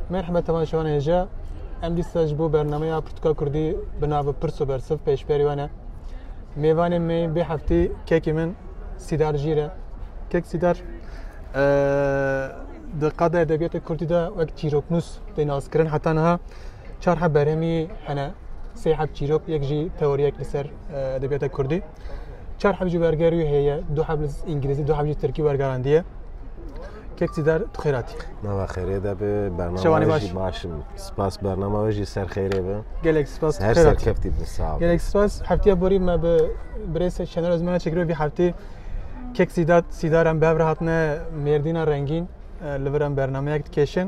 Merhaba tamam şu an Ece. Em dîsa bu bernameya Pirtûka Kurdî bi navê Pirs û Bersiv pêşberî wan e. Mêvanê me bê heftî kekê min Sîdar Jîr e. Kek Sîdar Di qada edebiyatê Kurdî de wek çîroknûs tê naskirin heta niha çar heb berhemî hene sê heb çîrok yek jî teoriyek li ser edebiyata Kurdî çar heb jî wergerî heye du heb li îngilîzî du heb jî tirkî wergerandiye Kek Sidar tu xêratî. Nava xêrê de bi bername baş. başim. Spas bername ve jî ser xêrê be. Gelek spas. Her serkeftî bi sağ. Gelek spas. Heftiya borî me bi birêse Şener Özmen'e çekirê bir heftê Kek Sîdat Sîdar em bev re hatine Mêrdîna Rengîn li vir em bernameyek dikêşin.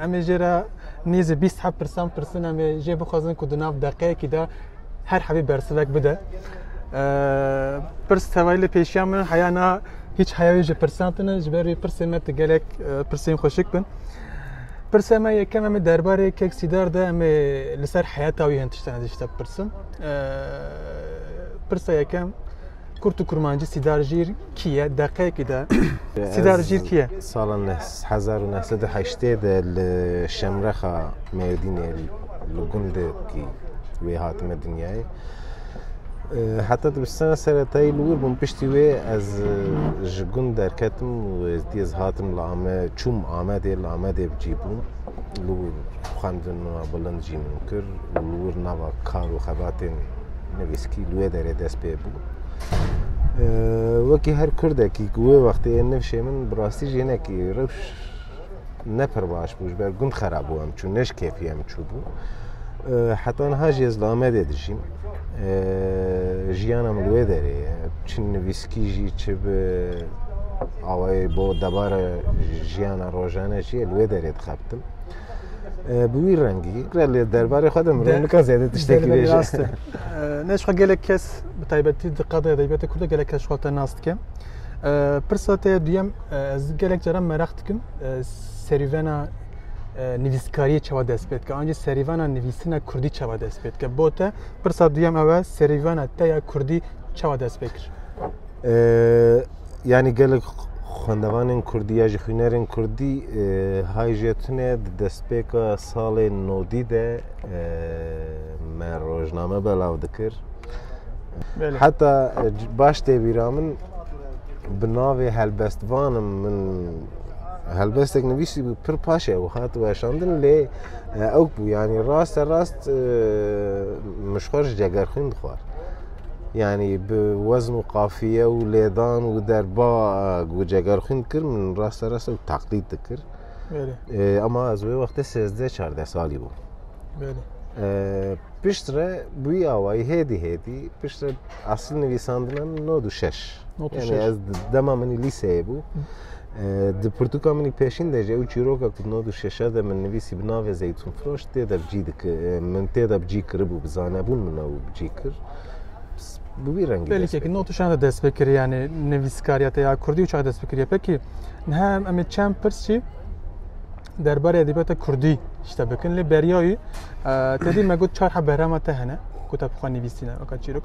Em ê jê re nêzî bîst heb pirsan pirsin em ê jê bixwazin ku di nav deqeyekî de her hebî bersivek bide. Pirs tevayî li pêşiya min heya na hiç heya wê ji pirsan tine ji ber wê pirsê me ti gelek pirsên xweşik bin. Pirsê me yekem em ê derbarê kek sîdar de em ê li ser heyata wî hin tiştan dişte pirsin. Pirsa yekem Kurt û Kurmancî Sîdar Jîr kî ye? Deqeyekî de Sîdar Jîr kî ye? Sala hezar û neh sed û heştê de li Şemrexa Mêrdînê li gundekî wê hatime dinyayê. Heta dibistana seretayî li wir bûm piştî wê ez ji gund derketim û êzdî ez hatim li Amed çûm Amedê li Amedê bi cî bûm. Li wir xwendina bilind jî min kir û li wir nava kar û xebatên nivîskî li wê derê dest pê bû. Wekî her Kurdekî ku wê wextê yên nivşê min bi rastî jî hinekî rewş ne pir baş bû ji ber gund xera bû em çû neş kêfî em çû bû. Heta niha jî ez li Amedê dijîm. Jiyana min li wê derê ye. Çi nivîskî jî çi bi awayê bo debara jiyana rojane jî li wê derê dixebtim. Bi wî rengî lê derbarê xwe de mirov nika zêde tiştekî bêje. Rast e. Nêj xwe gelek kes bi taybetî di qadê edebiyatê Kurd de gelek kes ji xwe te nas dike. Pirsa te ye duyem ez gelek caran meraq dikim serîvena nivîskariyê çawa dest pê dike ancî serîvena nivîsina Kurdî çawa dest pê dike. Bo te pirsa duyem ew e serîvena te ya Kurdî çawa dest pê kir? Yanî gelek xwendevanên Kurdî ya jî xwînerên Kurdî hay jê tune di destpêka salê nodî de me rojname belav dikir. Heta baş tê bîra min bi navê helbestvanim min helbestek nivîsî bû pir paşê ew hat weşandin lê ew bû yanî raste rast min ji xwe ji cegerxwîn dixwar. Yani bi wezn û qafiye û lêdan û derba ku ceger xwîn dikir min raste rast ew teqlîd dikir. Ama ez wê wextê sêzdeh çardeh salî bûm. Pişt re bûyî awayî hêdî hêdî pişt re esil nivîsandina min nod û şeş. Yani ez dema min lîseyê bû Di pirtûka min pêşîn de jî ew çîroka ku di nod û şeşer de min nivîsî bi navê Zeytûnfiroş tê de bicî dikir min tê de bicî kiribû bi zanebûn min ew bicî kir bi wî rengî Belîkekî nod û şeşer de dest pê kiriye yanî nivîskariya te ya kurdî û çax dest pê kiriye pekî niha em em ê çend pirs jî derbarê edebiyata kurdî ji te bikin lê beriya wî tedî me got çar he berama te hene ku te bi xwe nivîsîne weka çîrok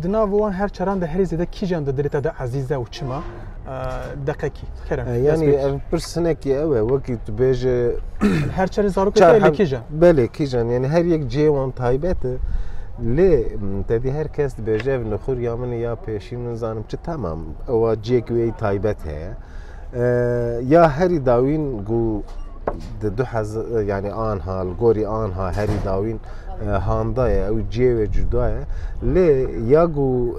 Di nav wan her çaran de herî zêde kîjan di dilê te de ezîz e û çima? Deqekî kerem. Yanî ev pirsinekî ew e wekî tu bêje her çarê zarokê te lê kîjan? Belê kîjan yanî her yek cihê wan taybet e. Lê tedî her kes dibêje ev nixûr ya min ya pêşî min zanim çi tamam ewa cihek wê taybet heye. Ya herî dawîn ku di du hez yanî anha li gorî anha herî dawîn handa ye ew ciyê wê cuda ye lê ya ku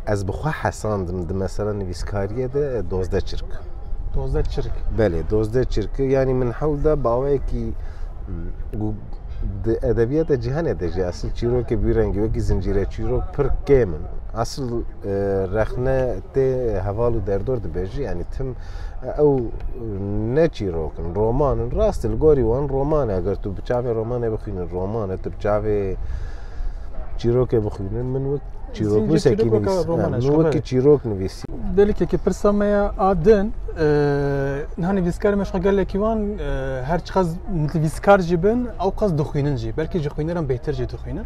ez bi xwe hesandim di mesela nivîskariyê de dozde çirk. Dozde çirk. Belê dozde çirk yanî min hewl da bawekî di edebiyata cîhanê de jî esil çîrokê bîrengî wekî zincîre çîrok pir kêm in. Esil rexne Tê heval û derdor dibêjî yanî tim ew ne çîrok in, roman in. Rast e li gorî wan roman e. Eger tu bi çavê romanê bixwînin roman e, tu bi çavê çîrokê bixwînin min wek çîroknûsekî nivîs min wekî çîrok nivîsî. Delikekî pirsa me ya a din niha nivîskarê me ji xwe gelekî wan her çiqas nivîskar jî bin ew qas dixwînin jî belkî ji xwîneran bêhtir jî dixwînin.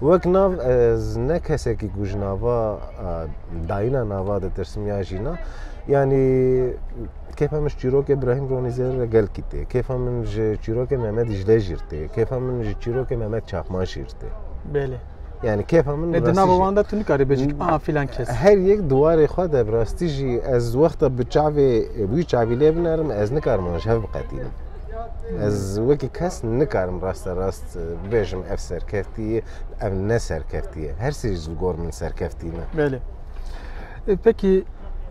Wek nav ez ne kesekî ku ji nava dayîna nava ditirsim ya jîna yanî kêfa min ji çîrokê Brahîm Ronîzêr re gelkî tê. Kêfa min ji çîrokê Mehmet Dîcle jî tê. Kêfa min ji çîrokê Mehmet Çakman jî tê. Belê. Yani kêfa min e, di nava wan de tu nikarî bêjî aha filan kes. Her yek diwarê xwe de bi rastî jî ez wexta bi çavê wî çavî lê binerim ez nikarim wan ji hev biqetînim. Ez wekî kes nikarim raste rast bibêjim ev serkeftî ye, ev ne serkeftî ye. Her sî ji gor min serkeftî ne. Belê. E, Pekî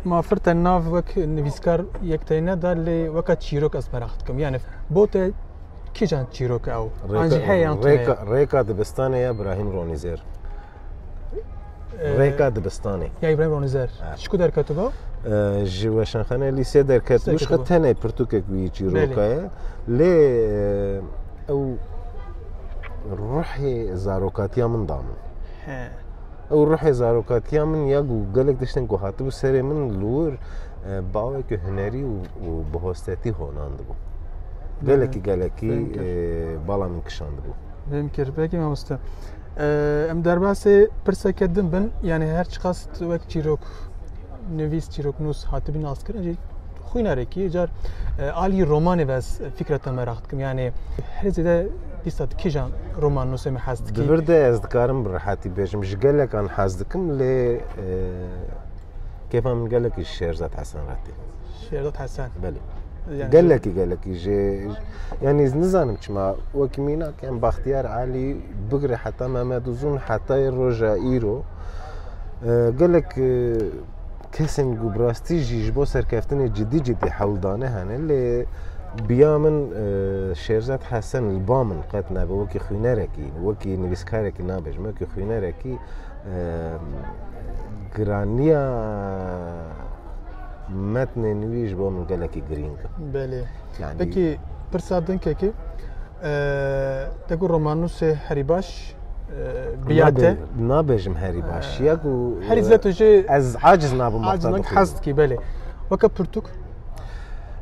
ma firte nav wek nivîskar yek teyne da lê weka çîrok ez merak dikim. Yani bo te kîjan çîrok e ew? An jî heye yan tu heye? Rêka, rêka dibistanê ya Brahim Ronîzer. Rêka dibistanê. Ya İbrahim Ronizer. Ji ku derketiba? Ji weşanxane lîsê derketiba. Ji tenê pirtûkek wî çîroka ye. Lê ew ruhê zarokatiya min da min. Ew ruhê zarokatiya min ya ku gelek tiştên ku hatibû serê min li wir bawekî hunerî û bi hostetî honan dibû. Gelekî gelekî bala min kişandibû. Vêm kir. Belkî mamoste. Em derbasê pirseke din bin yanî her çiqas wek çîrok nivîs çîroknûs hatibî naskirin jî xwînarekî car alî romanê ve ez fikra te meraq dikim yanê her zêde pîsta kijan roman nûsê me hez dikî Divir de ez dikarim bi rehatî bêjim ji gelekan hez dikim lê kêfa min gelekî Şêrzad Hesenretî Şêrdot Hesen. Belê. Yani Gelekî gelekî jê yanî nizanim çima wekî mînak em Baxtiyar Elî bigire heta Mehmed Uzun hetayê roja îro e, gelek e, kesên ku bi rastî jî ji bo serkeftinê cidî cidî hewl dane hene lê biya min e, Şêrzad Hesen li ba min qet nabe wekî xwînerekî wekî nivîskarekî nabêjim wekî xwînerekî e, giraniya Metnên wî ji bo min gelekî girîng in. Belê. Yani- Peki pirsa din kekê e, te ku romannûsê herî baş e, biya te Nabe- Nabêjim herî baş. Ya ku e, herî zêde tu jê ez aciz nabim wexta aciznak dixwînim. hez dikî belê. Weke pirtûk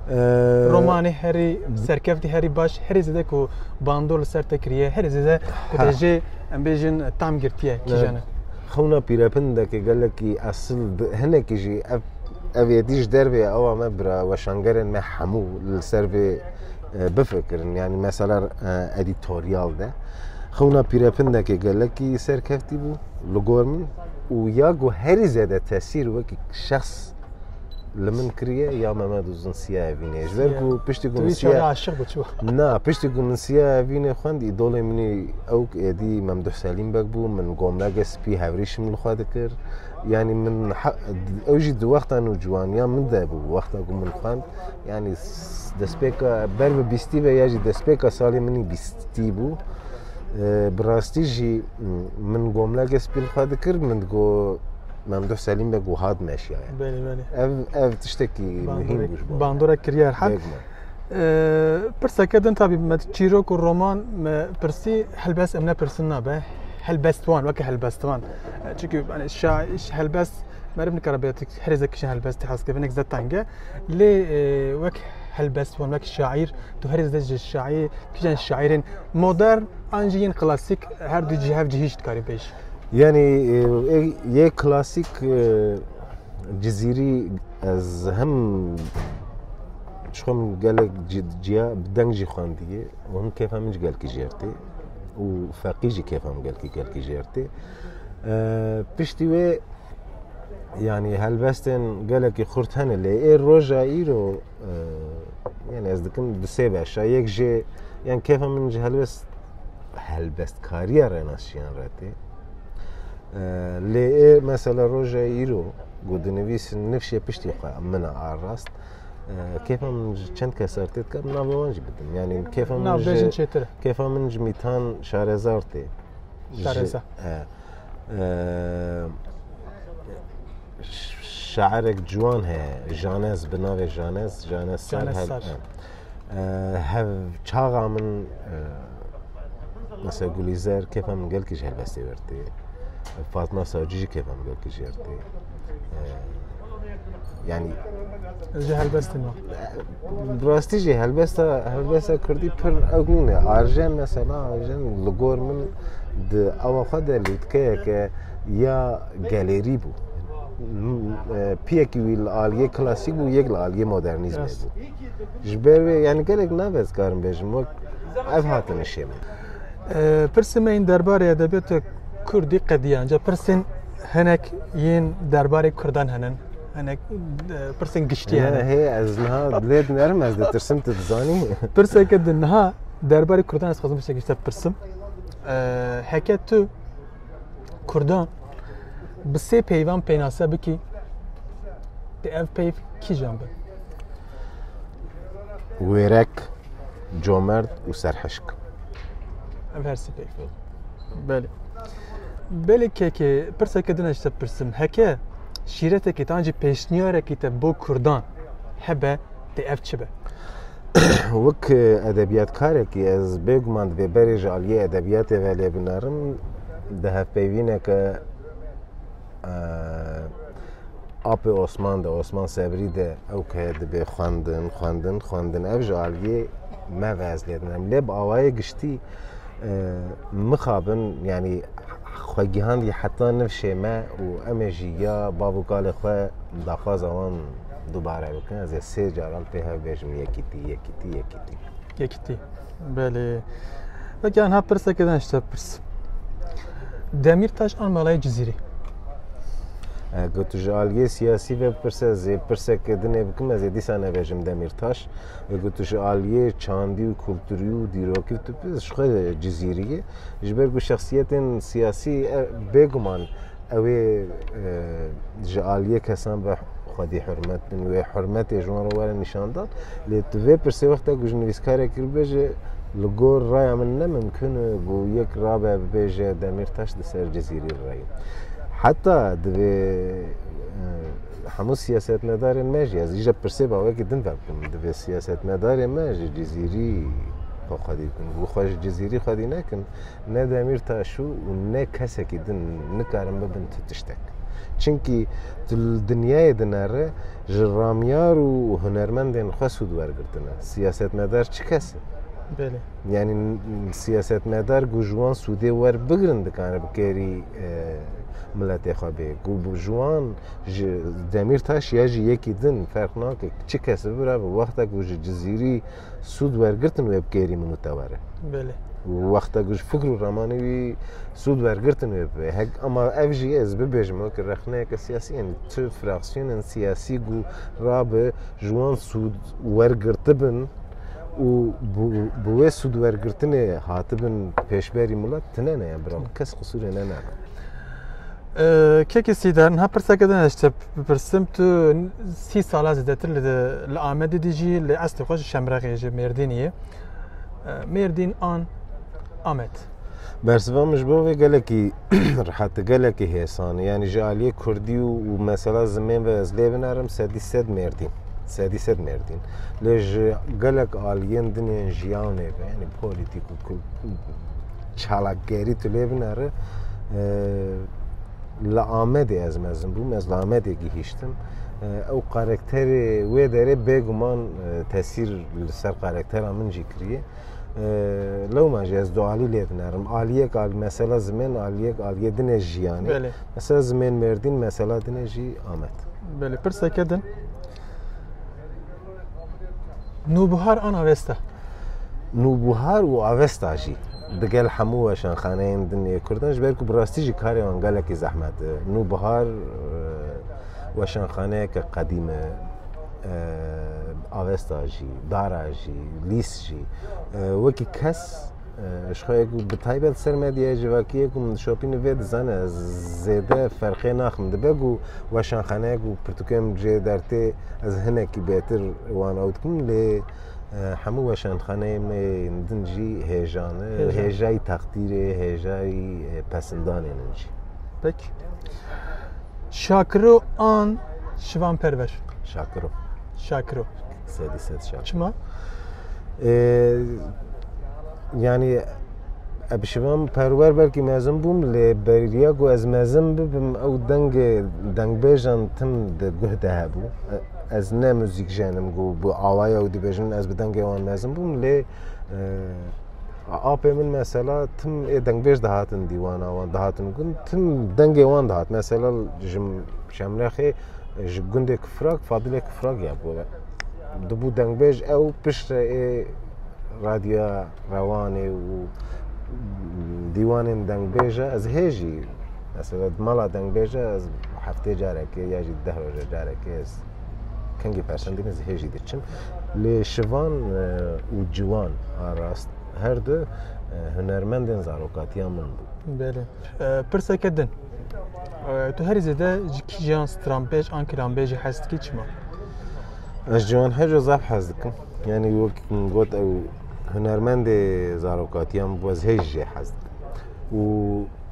E, romanê herî serkeftî herî baş herî zêde ku bandor li ser te kiriye herî zêde ku te Ha. jê em bêjin tam girtiye kîjan e? Xewna pîrepindekê gelekî esil di hinekî jî ev ev êdî ji dervê ye ewa me bira weşangerên me hemû li ser vê bifikirin yanî mesela edîtoryal de xewna pîrepindekê gelekî serkevtî bû li gor min û ya ku herî zêde tesîr wekî şexs li min kiriye ya me me dozin siya evînê ji ber ku piştî ku min siya aşiq biçû na piştî ku min siya evînê xwend îdolê minî ew êdî Memduh Selîm bek bû min gomlege spî hevrîşim li xwe dikir yanî min ew jî di wexta nû ciwaniya min de bû wexta ku min xwend yanî destpêka ber bi bîstî ve ya jî destpêka salê minî bîstî bû bi rastî jî min gomlege spî li xwe dikir min digo Memduh Selîm Beg û hat meşiyaye. Belê belê. Ev ev tiştekî muhîm bû ji bo. Bandora kiryar hal. Pirseke din tabî me çîrok û roman me pirsî helbest em nepirsin nabe. Helbestwan weke helbestwan. Çünkü yani şair helbest merib nikare be her zek kişi helbest has kevin ek zetange. Lê wek helbestwan wek şair tu her zek ji şair kişen şairin modern an jî yên klasik her du cihev cihîşt karî bêj. Yanî yê klasîk cizîrî ez hem çixwe min gelek ciya bi deng jî xwendiye û him kêfa min jî gelkî jêrtê û feqî jî kêfa min gelkî gelkî jêrtê. Piştî wê yanî helbestên gelekî xurt hene lê ê roja îro Yani ez dikim du sê beşa yek jê yan kêfa min ji helbest helbestkariya renaşiyan re tê. Lê ê mesela roja îro ku dinivîsin nifşê piştî xwe min arast kêfa min ji çend kesar tê dikar min navê wan jî bidim. Yani kêfa min jin çêtir. Kêfa min ji mîtan şarezar tê. Şareza. Şairek ciwan heye Janez bi navê Janez Janez Sar Janez Sar. hev- e, hev çaxa min e, mesela Gulîzer kêfa min gelkî ji helbestê wertê Fatma Sacî jî kêfa min gelkî ji wertê yani Ez ji helbestê me. bi rastî jî helbesta helbesta Kurdî pir ew nîn e arjen mesela arjen li gor min di ewa xwe de lûtkeyeke ya galerî bû. Piyekî wî li aliyê klasîk bû, yek li aliyê modernîzmê bû. Ji ber wê yani gelek nave ez karim bêjim wek ev hatine şê min. Pirsê me yên derbarê edebiyatê Kurdî qediyan. Ca pirsên hinek yên derbarê Kurdan hinin. Hinek pirsên giştî hinin. Hê ez niha lê dinerim ez ditirsim tu dizanî. Pirseke di niha derbarê Kurdan ez xwezim pirseke te pirsim. Heke tu Kurdan bi sê peyvan pênase bikî di ev peyv kîjan bin? Wêrek, comerd û serhişk. Ev her sê peyv. Belê. Belê kekê pirseke din eşte pirsim. Heke şîretekî tan jî pêşniyarekî te bo Kurdan hebe tê ev çi be? Wek edebiyatkarekî ez bêguman divê berê ji aliyê edebiyatê ve lê binerim di hevpeyvîneke Apê Osman de Osman Sebrî de ew ke dibê xwendin xwendin xwendin ev ji aliyê me ve ez lêdinim lê bi awayê giştî mixabin yanî xwe gihandî heta nifşê me û em ê jî ya bav û kalê xwe daxwaza wan dubare bikin ez ê sê caran pê hev bêjim yekîtî yekîtî yekîtî yekîtî belê Peki anha pirseke din işte pirs Demîrtaş an malayê Cizîrê Ku tu ji aliyê siyasî ve pirse zê pirseke dinê bikim ez ê dîsa nebêjim Demîrtaş Bi gotişê aliyê çandî û kulturî û dîrokî tu bi ji xwe cizîrî yî. Ji ber ku şexsiyetên siyasî bêguman ewê ji aliyê kesan ve xwedî hurmet bin wê hurmetê ji wan re were nîşandan. Lê tu vê pirsê wexta ku ji nivîskarek hilbêje li gor raya min ne mimkun e ku yek rabe bibêje Demîrtaş di ser cizîrî re ye. Heta divê Hemû siyasetmedarên me jî ez îje pirsê ba wekî din ve bikim. Divê siyasetmedarê me ji Cizîrî xwe xwedî bikin. Û xwe ji Cizîrî xwedî nekin, ne Demîr Taşû û ne kesekî din nikarin bibin tu tiştek. Çimkî tu li dinyayê din re ji ramyar û hunermendên xwe sûd wergirtine. Siyasetmedar çi kes e? Belê. Yanî siyasetmedar ku ji wan sûdê werbigirin dikarin bi kerî Miletê xwe bê. Ku bi ji wan ji Demîrtaş ya ji yekî din ferq nake. Çi kes bi bira bi wexta ku ji Cizîrî sûd wergirtin wê bi kêrî min û te were. Belê. Wexta ku ji fikr û ramanê wî sûd wergirtin wê bi. Hek ama ev jî ez bibêjim wek rexneyeke siyasî yani tu fraksiyonên siyasî ku rabe ji wan sûd wergirtibin û bi wê sûdwergirtinê hatibin pêşberî milet tine ne ya bira kes qisûrê ne ne Kekê Sîder niha pirseke din eşte bipirsim tu sî sala zêdetir li Amedê dî jî lê eslê xwe ji Şemrexê ji Mêrdîniyê Mêrdîn an Amed Bersiva min ji bo vê gelekî rehati gelekî hêsan yanî ji aliyê Kurdî û û mesela zimên ve ez lê binerim sedî sed mêrdîn sedî sed mêrdîn lê ji gelek aliyên dinên jiyanê ve yanî polîtîk û çalakgerî tu lê binere li Amedê ez mezin bûm ez li Amedê gihîştim ew karakterê wê derê bêguman tesîr li ser karaktera min jî kiriye lewma jî ez du alî lê dinerim. Aliyek al mesela zimên aliyek aliyê dinê jiyanê. Belê. Mesela zimên merdîn mesela dinê jî amet. Belê pirseke din. Nûbihar an avesta. Nûbihar û avesta jî. Digel hemû weşanxaneyên dinê Kurdan ji ber ku bi rastî jî karê wan gelekî zehmet e. Nûbihar weşanxaneyeke qedîm e. avesta jî, dara jî, lîs jî wekî kes ji xwe ku bi taybet ser medyayê civakiyê ku min dişopîne vê dizane ez zêde ferqê naxim dibe ku weşanxaneyek û pirtûkê min jê dertê ez hinekî bêtir wan ew dikim lê hemû weşanxaneyê me yên din jî hêjan e hêjayî teqdîrê hêjayî pesindanê min jî. Peki. Şakiro an Şivan Perver? Şakiro. Şakiro. Sedî sed şakiro. Çima? Yani Ebşivan perwer belkî mezin bûm lê beriya ku ez mezin bibim ew dengê dengbêjan tim di guh de hebû. Ez ne muzîk jenim ku bi awaya ew dibêjin ez bi dengê wan mezin bûm lê Apê min mesela tim ê dengbêj dihatin dîwana wan dihatin gund tim dengê wan dihat mesela ji Şemlexê ji gundê Kifrak Fadilê Kifrak ya bû dibû dengbêj ew piştre ê radya rewanê û dîwanên dengbêje ez hê jî mesela mala dengbêje ez heftê carekê ya jî deh roje carekê ez kengî persendîn ez hê jî diçim. Lê şivan û ciwan a rast her du hunermendên zarokatiya min bûn. Belê. Pirseke din. Tu herî zêde ji kîjan stranbêj an kiranbêjê hez dikî çima? Ez ji wan herco zaf hez dikim. Yanî wek min got ew hunermendê zarokatiya min bû ez hê jî jê hez dikim. Û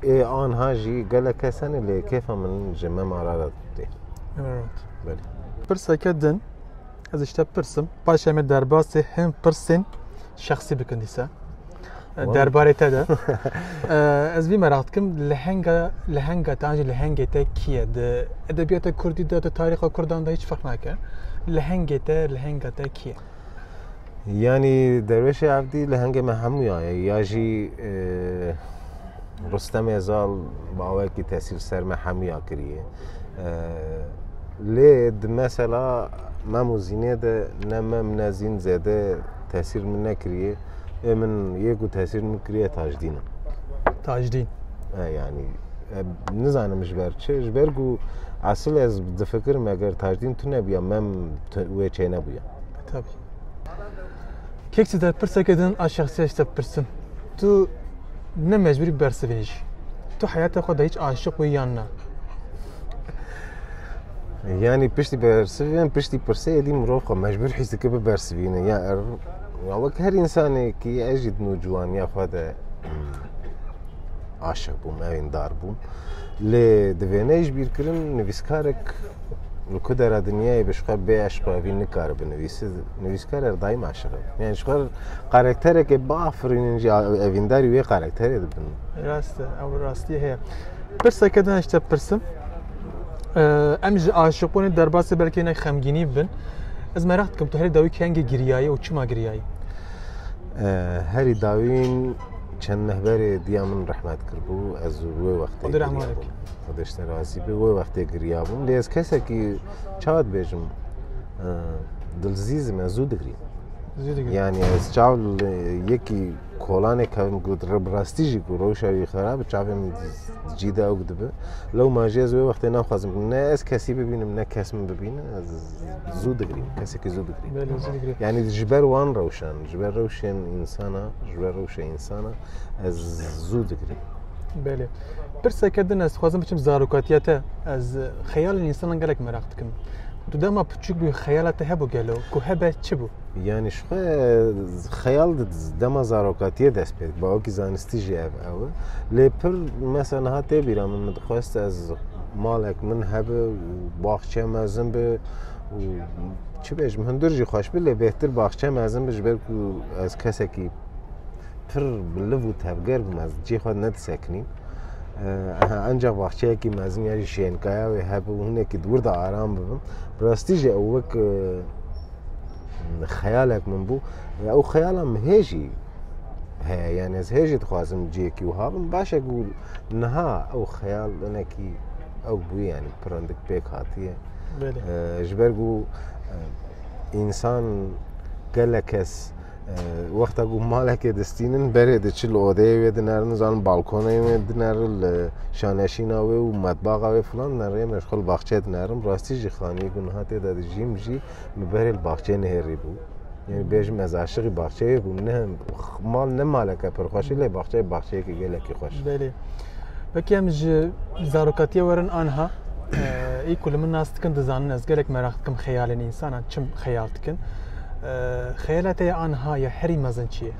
ê anha jî gelek kes hene lê kêfa min ji me ma ra re tê. Pirseke din. Ez işte pirsim. Paşa me derbasê hem pirsên şexsî bikin dîsa. Derbarê te de. Ez vî merak dikim lehenga lehenga te anjî lehengê te kiye di edebiyata Kurdî de di tarîxa Kurdan de hiç ferq nake. Lehengê te lehenga te kiye? Yanî derwêşê evdî li hengê me hemû ya ye ya jî Rustemê zal bi awayekî tesîr ser me hemû ya kiriye. Lê di mesela mem û zînê de ne mem ne zîn zêde tesîr min nekiriye. Ê min yê ku tesîr min kiriye tajdîn e. Tajdîn. E yanî nizanim ji ber çi ji ber ku esil ez difikirim eger tajdîn tune bûya mem wê çê nebûya. Tabî. Kek tu te pirseke din a şexsîya ji te bipirsin. Tu ne mecbûrî bersivînî jî. Tu heyata xwe de hiç aşiq wî yan na? Yani piştî bersivînin, piştî pirseyê dî mirov xwe mecbûr hîs dike bibersivîne. Ya er ya wek her însanekî ez jî di nû ciwaniya xwe de aşiq bûm, evên dar bûm. Lê di vêneyê ji bîr kirin nivîskarek li ku dera dinyayê bi ji xwe bê eşq û evî nikare binivîse nivîskar er daîm aşiq e. Yani ji xwe karakterekê biafirînin jî evîndarî wê karakterê dibin. Rast e, ew rastiyê heye. Pirseke din ji te pirsim. Em ji aşiqbûnê derbasê belkî hinek xemgînî bibin. Ez meraq dikim tu herî dawî kengê giriyayî û çima giriyayî? Herî dawîn Çend meh berê diya min rehmet kirbû ez wê wextê Xwedê rehma giriyabûm. bike. Xwedê ji te razî be wê wextê giriyabûm lê ez kesekî çawa dibêjim e, dilzîzim ez zû digirîm. Zî digir. Yani ez çav li yekî kolanê kevim ku rib rastî jî ku rewşa wî xerab çavê min di- cî de ewk dibe. Lewma jî ez wê wextê naxwazim ku ne ez kesî bibînim ne kes min bibîne ez zû digirîm kesekî zû digirîm. Belê zî digirê. Yani ji ber wan rewşan Ji ber rewşên insana, ji ber rewşa insana ez zû digirim. Belê. Pirseke din ez dixwazim biçim zarokatiya te. Ez xeyalên insanan gelek meraq dikim. Tu dema piçûk bû xeyala te hebû gelo ku hebe çi bû? Yani ji xwe xeyal dema zarokatiye dest pê ba wekî zanistî jî ev ew e. Lê pir mesela niha tê bîra min min dixwest ez malek min hebe û baxçeya mezin be û çi bêjim hundir jî xweş bi lê bêhtir baxçe mezin bi ji ber ku ez kesekî pir biliv û tevger bim ez cê xwe nedisekinîm ancak baxçeyekî mezin ya jî şênkaya wê hebe û hinekî di wir de aram bibim rastî jî ew wek xeyalek min bû ew xeyala min hê jî heye yani ez hê jî dixwazim ciyekî wiha bim başek û niha ew xeyal hinekî ew bûye yani pirindik pêk hatiye ji ber ku însan gelek kes wexta ku malekê distînin berê diçi li odeyê wê dinerin zan balkonê wê dinerin li şaneşîna wê û metbaxa wê filan dinerin rê meşxul baxçe dinerin rastî jî xanî ku niha tê de dijîm jî min berê li baxçeyê nihêrî bû Yani bêjim ez aşiqî baxçeyê bûm ne mal ne maleke pir xweş lê baxçeyê baxçeyekî gelekî xweş. Belê. Wekî em ji zarokatiyê werin anha ê ku li min nas dikin dizanin ez gelek meraq dikim xeyalên însanan çim xeyal dikin. Xeyala te ya anha ya herî mezin çi ye?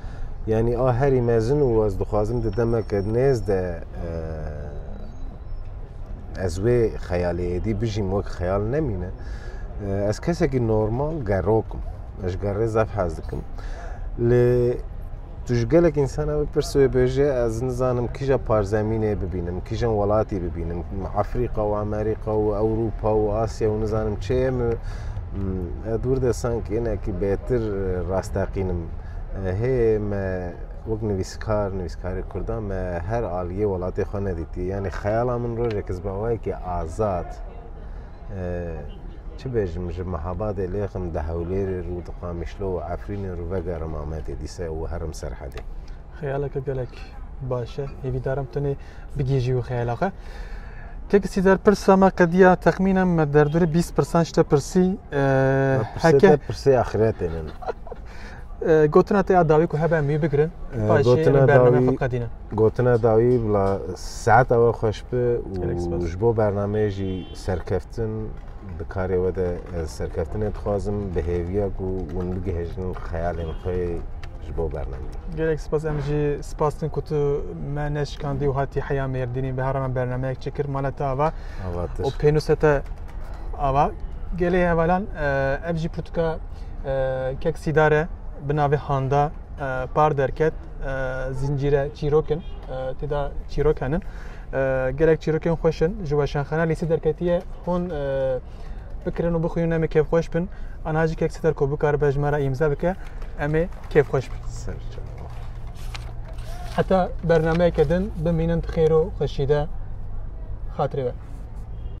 Yani a herî mezin û ez dixwazim di demeke nêz de Ez wê xeyalê êdî bijîm wek xeyal nemîne. Ez kesekî normal gerokim. Ez gerê zef hez dikim. Li tu ji gelek insana bipirsi wê bêje ez nizanim kîja parzemînê bibînim, kîjan welatî bibînim, Afrika û Amerîka û Ewropa û Asya û nizanim çê ye min dûr de sanki hinekî bêtir rasteqînim. Hê me Wek nivîskar, nivîskarê Kurdan me her aliyê welatê xwe nedîtiye. Yanî xeyala min rojek ez bi awayekî azad çi bêjim ji Mehabadê lêxim di Hewlêrê rû di Qamişlo û Efrînê rû vegerim Amedê dîsa û herim serhedê. Xeyaleke gelek baş e. Hêvîdarim tenê bigihîjî wî xeyala xwe. Kek sîder pirsa me qediya texmînen me derdorê bîst pirsan ji te pirsî. Pirsê te pirsê axiretê min. Gotina te ya dawî ku hebe em wî bigirin ta jî em bername xwe qedîne. Gotina dawî bila saet ewe xweş bi û ji bo bernameyê jî serkeftin bi karê we de ez serkeftinê dixwazim bi hêviya ku hûn bigihêjin xeyalên xwe ji bo bernameyê. Gelek spas em jî spas din ku tu me neşikandî û hatî heya mêrdînî bi herama bernameyek çikir mala te ava û pênûsa te ava gelê hevalan ev jî pirtûka kek sîdare bi navê Handa par derket zincîre çîrokin têda çîrok henin gelek çîrokên xweş in ji weşanxana lîsî derketiye hûn bikirin û bixwînin em ê kêfxweş bin anha jî kek sîdar ku bikaribe ji me re îmza bike em ê kêfxweş bin heta bernameyeke din bimînin xêr û xweşî de xatirê we